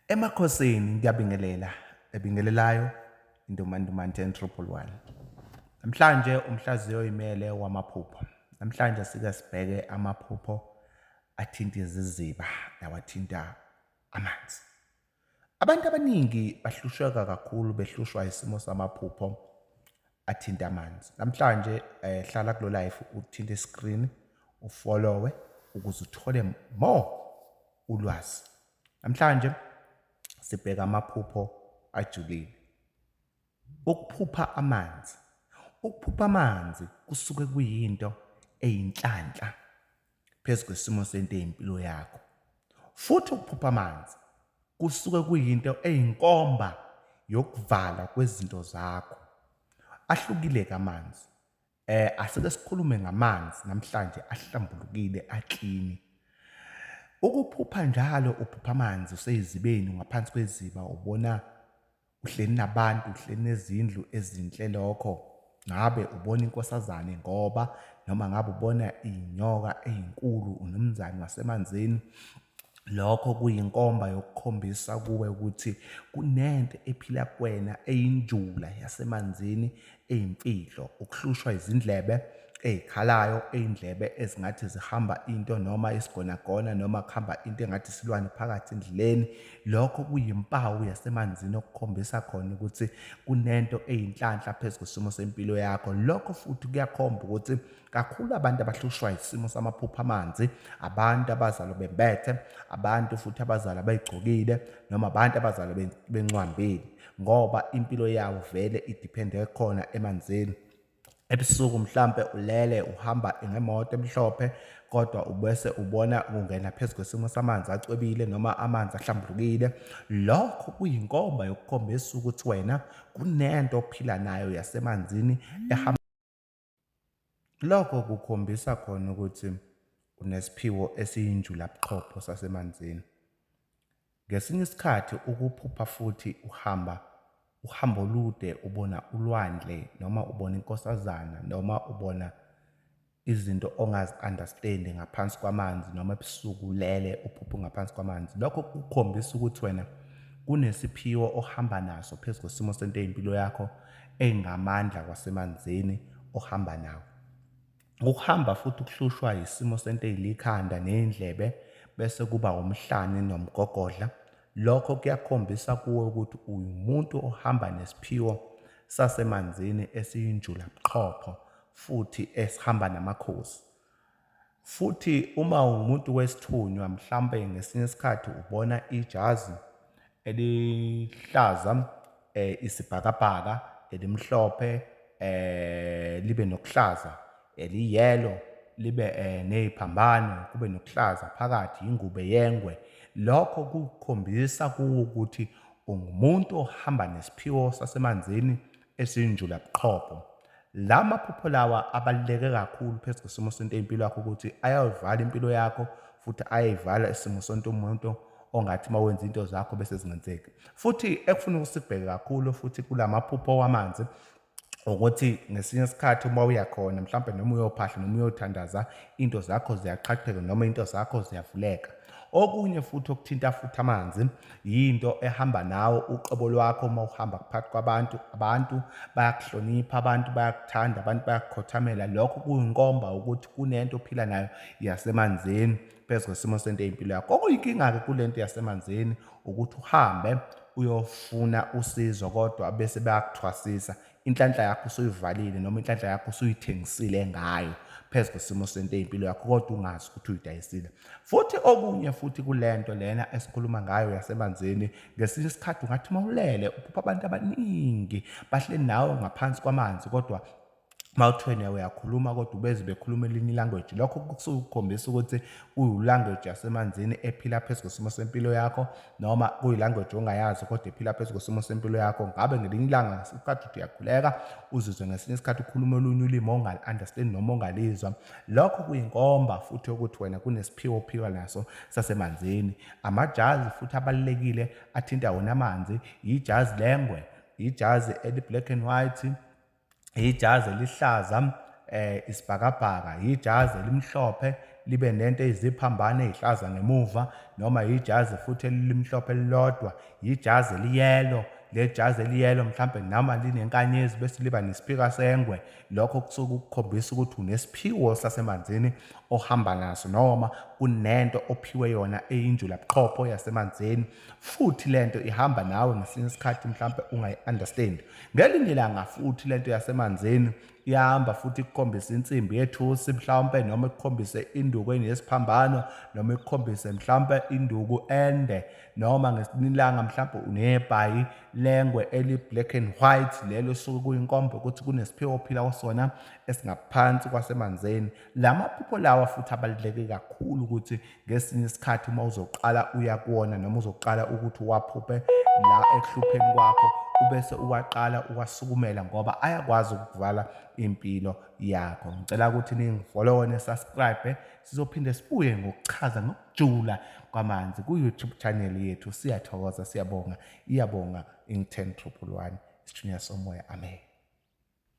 Emakhosini ngiyabingelela ebingelelayo indomandumanti and triple one. Namhlanje umhlaziyi oyimele wamaphupho. Namhlanje sike sibheke amaphupho athinta iziziba nawathinta amanzi. Abantu abaningi bahlusheka kakhulu behlushwa isimo samaphupho athinta amanzi. Namhlanje eh hlala kulo life uthinta i-screen ufollowe ukuze uthole more Ulwazi. Namhlanje sibheka amaphupho ajulile. Ukuphupha amanzi. Ukuphupha amanzi kusuke kuyinto eyinhlanhla phezu kwesimo sento eyimpilo yakho. Futhi ukuphupha amanzi kusuke kuyinto eyinkomba yokuvala kwezinto zakho. Ahlukile-ke amanzi Eh asike sikhulume ngamanzi namhlanje ahlambulukile aklini. Ukuphupha njalo uphupha amanzi useyizibeni ngaphansi kweziba ubona uhleli nabantu uhleli nezindlu ezinhle lokho ngabe ubona inkosazane ngoba noma ngabe ubona inyoka ezinkulu unumzane wasemanzini Lokho kuyinkomba yokukhombisa kuwe ukuthi kunento ephila kuwena eyinjula yasemanzini eyimfihlo, ukuhlushwa izindlebe ey'khalayo, iy'ndlebe ezingathi zihamba into noma isigonagona noma kuhamba into engathi isilwane phakathi endleleni. Lokho kuyimpawu yasemanzini okukhombisa khona ukuthi kunento eyinhlanhla phezu kwesimo sempilo yakho. Lokho futhi kuyakhomba ukuthi kakhulu abantu abahlushwa isimo samaphupho amanzi abantu abazalwa bembethe abantu futhi abazalwa bayigcokile noma abantu abazalwa bencwambile ngoba impilo yawo vele idiphende khona emanzini ebusuku mhlampe ulele uhamba ngemoto emhlophe kodwa ubese ubona kungena phezu kwesimo samanzi acwebile noma amanzi ahlambulukile lokho kuyinkomba yokukhombisa ukuthi wena kunento ophila nayo yasemanzini ehamba Lokho kukhombisa khona ukuthi unesiphiwo esiyinjulabuchopho sasemanzini. Ngesinye isikhathi ukuphupha futhi uhamba uhambo olude ubona ulwandle noma ubona inkosazana noma ubona izinto ongazi-understand-i ngaphansi kwamanzi noma ebusuku ulele uphuphe ngaphansi kwamanzi. Lokho kukhombisa ukuthi wena kunesiphiwo ohamba naso phezu kwesimo sento yempilo yakho engamandla kwasemanzini ohamba nawo. Ukuhamba futhi kuhlushwa yisimo senteyili ikhanda neyindlebe bese kuba umhlane nomgogodla. Lokho kuyakhombisa kuwe ukuthi uwumuntu ohamba nesiphiwo sasemanzini esiyinjula buchopho futhi esihamba namakhosi. Futhi uma ungumuntu wesithunywa, mhlawumbe ngesinye isikhathi ubona ijazi elihlaza, eh, isibhakabhaka, elimhlophe, eh, libe nokuhlaza, eliyelo, libe eh, neziphambano, kube nokuhlaza phakathi, ingube yengwe. Lokho kukhombisa kuwo ukuthi ungumuntu ohamba nesiphiwo sasemanzini esinjulabuqhopho. La maphupho lawa abaluleke kakhulu phezu kwesimo sento impilo yakho ukuthi ayayivala impilo yakho futhi ayayivala isimo sonto umuntu ongathi uma wenza into zakho bese zingenzeki futhi ekufuna ukusibheke kakhulu futhi kula maphupho wamanzi ukuthi ngesinye isikhathi uma uya khona mhlawumbe noma uyophahla noma uyothandaza into zakho ziyaqhaqheka noma into zakho ziyavuleka Okunye futhi okuthinta futhi amanzi yinto ehamba nawo uqobo lwakho uma uhamba phakathi kwabantu. Abantu bayakuhlonipha, abantu bayakuthanda, abantu bayakukhothamela. Lokho kuyinkomba ukuthi kunento ophila nayo yasemanzini phezu kwesimo sento ey'mpilo yakho. Okuyinkinga-ke kule nto yasemanzini ukuthi uhambe uyofuna usizo kodwa bese bayakuthwasisa. inhlanhla yakho usuyivalile noma inhlanhla yakho usuyithengisile ngayo phezu kwesimo sento impilo yakho kodwa ungazi ukuthi uyidayisile futhi okunye futhi kulento lena esikhuluma ngayo yasemanzini ngesinye isikhathi ungathi mawulele uphupha abantu abaningi bahle nawe ngaphansi kwamanzi kodwa mawuthwene uyakhuluma kodwa ubeze bekhuluma elinye ilanguage lokho kusuke kukhombisa ukuthi uyilanguage yasemanzini ephila phezu kwesimo sempilo yakho noma kuyilanguage ongayazi kodwa iphila phezu kwesimo sempilo yakho ngabe ngelinye ilanga ngesikhathi uthi uyakhuleka uzizwe ngesinye isikhathi ukhuluma olunye ulimi ongal-understand noma ongalizwa lokho kuyinkomba futhi ukuthi wena kunesiphiwo ophika naso sasemanzini amajazi futhi abalulekile athinta wona amanzi yijazi lengwe yijazi eli-black and white yijazi elihlaza um isibhakabhaka, yijazi elimhlophe libe nento eyiziphambane ezihlaza ngemuva noma yijazi futhi elimhlophe elilodwa, yijazi eliyelo lejazi eliyelo mhlambe noma linenkanyezi bese liba nesiphika sengwe lokho kusuke ukukhombisa ukuthi unesiphiwo sasemanzini ohamba naso noma kunento ophiwe yona eyinjula buqhopho yasemanzini futhi lento ihamba nawe ngesinye isikhathi mhlambe ungayi understand Ngelinye ilanga futhi lento yasemanzini ihamba futhi ikukhombise insimbi yethusi mhlawumpe noma ikukhombise induku enesiphambano noma ikukhombise mhlawumpe induku ende noma ngesinilanga mhlawumpe unebhayi lengwe eli-black and white lelo suke kuyinkomba ukuthi kunesiphiwo ophila kusona esingaphansi kwasemanzini la maphupho lawa futhi abaluleke kakhulu ukuthi ngesinye isikhathi uma uzoqala uya kuwona noma uzoqala ukuthi uwaphuphe la ekuhlupheni kwakho ubese uwaqala uwasukumela ngoba ayakwazi ukuvala impilo yakho ngicela ukuthi ningifollowe nesubscribe sizophinde sibuye ngokuchaza ngokujula kwamanzi ku-youtube channel yethu siyathokoza siyabonga iyabonga ingithen triple one isithunywa somoya amen